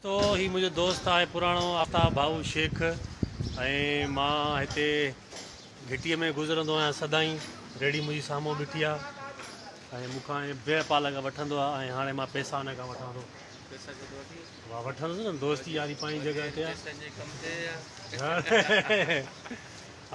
تو هي منهنجو دوست آهي پراڻو آفتاب ڀائو شيخ ۽ مان هتي گهٽيء ۾ گذرندو آهيان سدائين ريڙهي منهنجي سامهون بيٺي آهي ۽ مون کان بيهه پالڪ وٺندو آهي ۽ هاڻي مان پيسا هن کان وٺان ٿو مان وٺندس نه دوستي ياري پنهنجي جڳهه تي آهي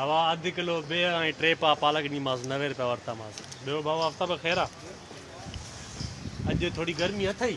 اوا اڌ ڪلو بيهه ۽ ٽي پا پالڪ ڏنيمانس نوي روپيا ورتامانس ٻيو ڀائو آفتاب خير آهي اڄ ٿوري گرمي اٿئي